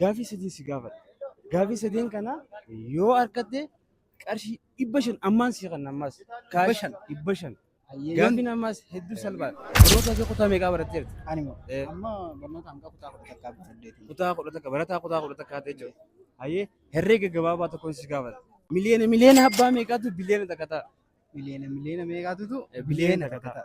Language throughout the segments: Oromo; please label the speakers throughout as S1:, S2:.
S1: Gaafii sadii si gaafadha. Gaafii sadeen kana yoo argatte qarshii dhibba shan ammaan si kan ammaas. Dhibba shan? Dhibba shan. Hayyee yoon Gaaffiin ammaas hedduu salphaadha. Barnoota kee kutaa meeqaa baratteerta? ani moo Eh. amma
S2: barnoota hanga kutaa kudha takkaa fi saddeetii. Kutaa kudha takka barataa
S1: kutaa kudha takka haatee jiru. Hayyee herreega gabaabaa tokkoon si gaafadha. Miliyoona miliyoona abbaa meeqaatu biliyoona takka ta'a? Miliyoona miliyoona
S2: meeqaatutu Eh, biliyoona takka ta'a.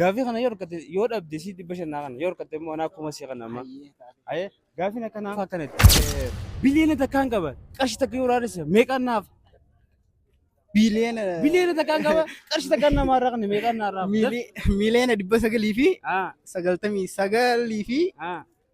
S1: Gaafii kana yoo argatte yoo dhabde si dhibba shannaa kana yoo argatte immoo anaa kuma si kana amma. Aye gaafiin akkanaa akkanatti biliyoona takkaan qaba qarshi takka yoo raadessa meeqaan naaf Biliyoona biliyoona takkaan qaba qarshi takkaan namaa irraa kana meeqaan naaf raaf. miili- miiliyoona dhibba
S2: sagalii fi Ah sagaltamii sagalii fi ah.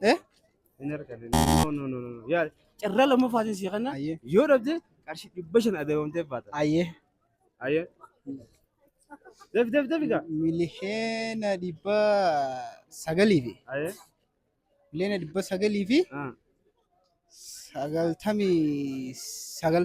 S2: Eh?
S1: Carraa lammaffaatiin si kanna Ayyee. yoo dhabde
S2: qarshii
S1: dhibba shan adabamtee baata. Ayyee.
S2: Ayyee.
S1: Dafi dafi dafi gaa. Miliyoona
S2: dhibba sagalii fi Ayyee.
S1: miliyoona
S2: dhibba sagalii fi Ah. sagaltamii sagal.